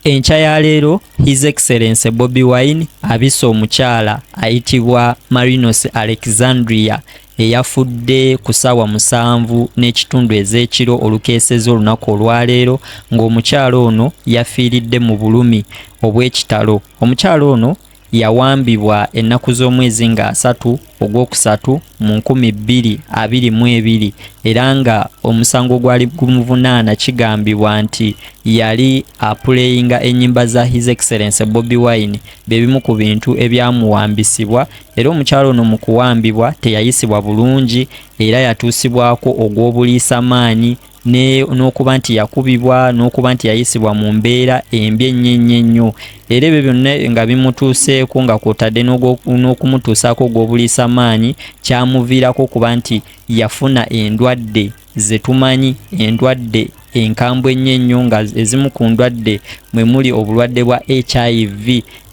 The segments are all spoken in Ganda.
enkya ya leero his excellence bobi wine abisa omukyala ayitibwa marinos alexandria eyafudde ku saawa musanvu n'ekitundu ez'ekiro olukeeseza olunaku olwaleero ng'omukyala ono yafiiridde mu bulumi obw'ekitalo omukyala ono Yawambibwa ennaku z'omwezi nga asatu ogw'okusatu mu nkumi bbiri abiri mu ebiri era nga omusango gwali gumuvunaana kigambibwa nti yali apuleyinga ennyimba za His Excellency Bobi Wine bye bimu ku bintu ebyamuwambisibwa era omukyala ono mu kuwambibwa teyayisibwa bulungi era yatuusibwako ogw'obuliisamaanyi n'okuba nti yakubibwa n'okuba nti yayisibwa mu mbeera embi ennyo ennyo ennyo era ebyo byonna nga bimutuuseeko nga kwotadde n'okumutuusaako ogw'obuliisa maanyi kyamuviirako okuba nti yafuna endwadde ze tumanyi endwadde enkambwe ennyo ennyo nga ezimu ku ndwadde mwe muli obulwadde bwa hiv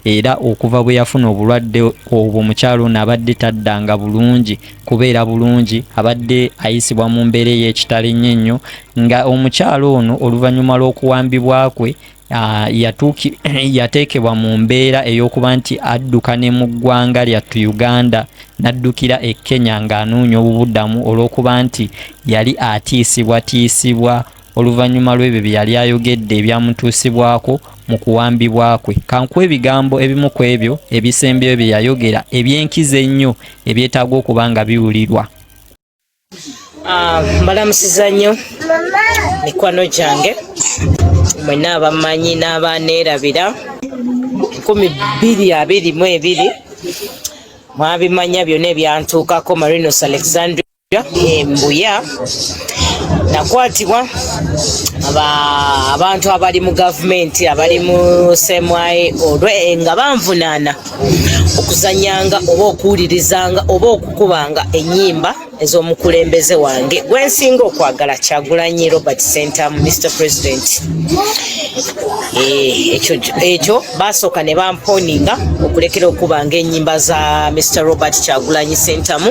era okuva bwe yafuna obulwadde obwo mukyalo ono abadde taddanga bulungi kubeera bulungi abadde ayisibwa mu mbeera ey'ekitalo ennyo ennyo nga omukyalo ono oluvannyuma lw'okuwambibwa kwe Ah, yatuuki yateekebwa mu mbeera ey'okuba nti adduka ne mu ggwanga lyattu uganda n'addukira e kenya ng'anoonya obubuddamu olw'okuba nti yali atiisibwatiisibwa oluvannyuma lw'ebyo bye yali ayogedde ebyamutuusibwako mu kuwambibwa kwe kankuwa ebigambo ebimu ku ebyo ebisembyeyo bye yayogera eby'enkizo ennyo ebyetaaga okuba nga biwulirwa ah, mbalamusiza nnyo mikwano gyange mwena abamanyi n'abaaneerabira nkumi bbiri abiri mu ebiri mwabimanya byonna ebyantuukako marinos alexandria embuya nakwatibwa abantu abali mu gavumenti abali mu semwaye olwe nga banvunaana okuzanyanga oba okuwulirizanga oba okukubanga enyimba ez'omukulembeze wange gwensinga okwagala kyagulanyi robert center mu mr president eh, ekyo basooka ne bamponinga okulekera okubanga enyimba za mr robert kyagulanyi sentamu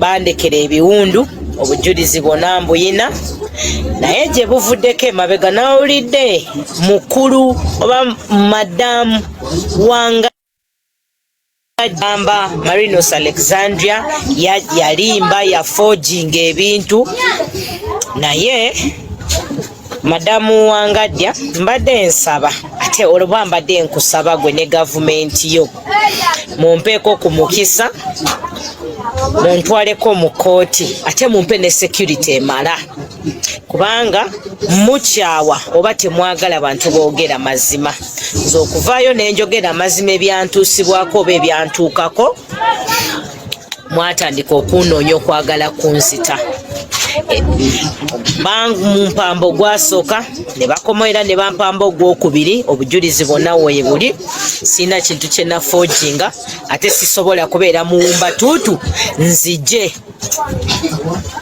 bandekera ebiwundu obujulizi bwona mbuyina naye gye buvuddeko emabega nawulidde mukulu oba madamu wanga agamba marinos alexandria yalimba yafoginga ebintu naye madamu wangadya mbadde nsaba ate olwoba mbadde nkusaba gwe ne gavumenti yo mumpeeko ku mukisa muntwaleko mu kkooti ate mumpe ne security emala kubanga mukyawa oba temwagala bantu boogera mazima nze okuvaayo nenjogera amazima ebyantuusibwako oba ebyantuukako mwatandika okunoonya okwagala kunzita e, bamumpamba ogwasooka ne bakomaera ne bampamba ogwokubiri obujulizi bwonna weebuli sirina kintu kyenafoojinga ate sisobola kubeera muwumba tuutu nzije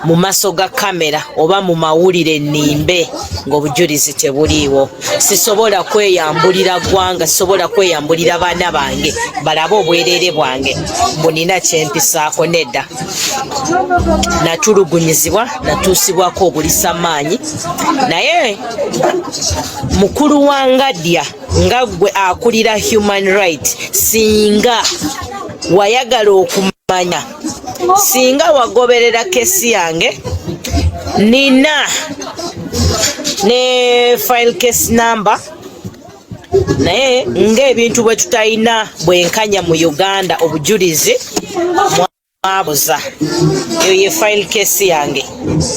mu maaso ga kamera oba mu mawulire nimbe ng'obujulizi tebuliiwo sisobola kweyambulira ggwanga sisobola kweyambulira baana bange balabe obwereere bwange mbu nina kyempisaako nedda natulugunyizibwa natuusibwako obulisa maanyi naye mukulu wa ngadya nga gwe akulira human right singa wayagala okumanya singa wagoberera kesi yange nina ne file case number naye ng'ebintu bwe tutalina bwenkanya mu uganda obujulizi mwabuza eyo ye file case yange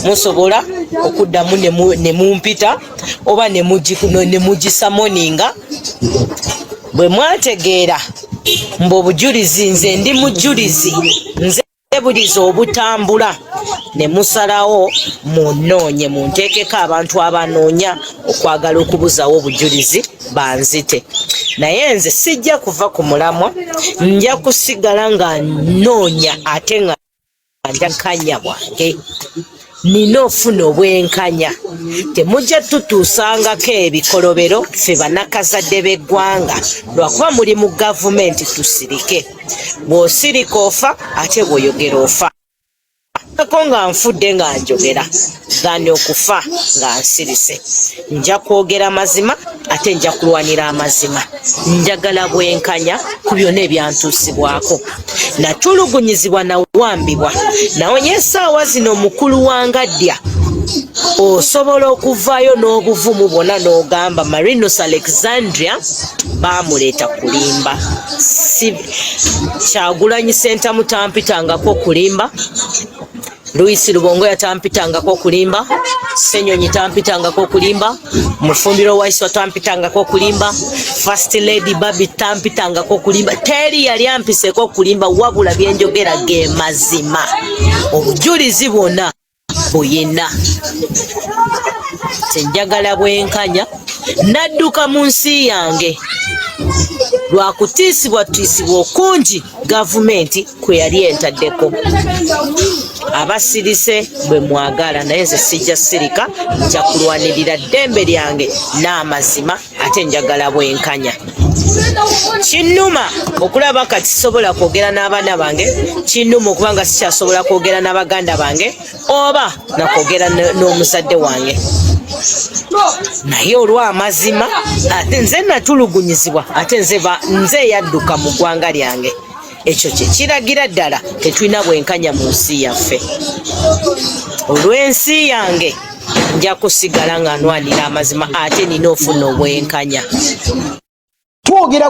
musobola okuddamu ne mumpita oba ne mugisamoninga bwe mwategeera mbu obujulizi nze ndi mujulizi nze ebuliza obutambula ne musalawo munoonye munteekeko abantu abanoonya okwagala okubuzawo obujulizi banzite naye nze sijja kuva ku mulamwa nja kusigala nga noonya ate nga njaganya bwange nina ofuna obwenkanya temujja tutuusangako ebikolobero ffe banakazadde b'eggwanga lwakuba muli mu gavumenti tusirike bw'osirika ofa ate bw'oyogera ofa ko nga nfudde nga njogera than okufa nga nsirise nja kwogera amazima ate nja kulwanira amazima njagala bwenkanya ku byona ebyantuusibwako natulugunyizibwa nawambibwa naonye esaawa zino mukulu wangadya osobola okuvaayo n'obuvumu bwona n'ogamba marinus alexandria baamuleeta kulimba si kyagulanyi sentamu tampitangako kulimba Luisi Lubongoya tampitangako kulimba, Senyonyi tampitangako kulimba, Mufumbiro Waiswa tampitangako kulimba, First Lady Babi tampitangako kulimba. Teri yali ampiseko kulimba wabula byenjogera ge mazima. Obujulizi bwona buyina. Senjagala bwenkanya nadduka mu nsi yange lwakutiisibwa tiisibwa okungi gavumenti kwe yali entaddeko abasirise bwe mwagala naye nze sijja sirika nja kulwanirira ddembe lyange n'amazima ate njagala bwenkanya kinnuma okulaba kati sobola kwogera n'abaana bange kinnuma okuba nga sikyasobola kwogera n'abaganda bange oba nakwogera n'omuzadde wange naye olw'amazima ate nze natulugunyizibwa ate nze eyadduka mu ggwanga lyange ekyo kye kiragira ddala tetulina bwenkanya mu nsi yaffe olw'ensi yange nja kusigala nga nwanira amazima ate nina ofuna obwenkanya twogera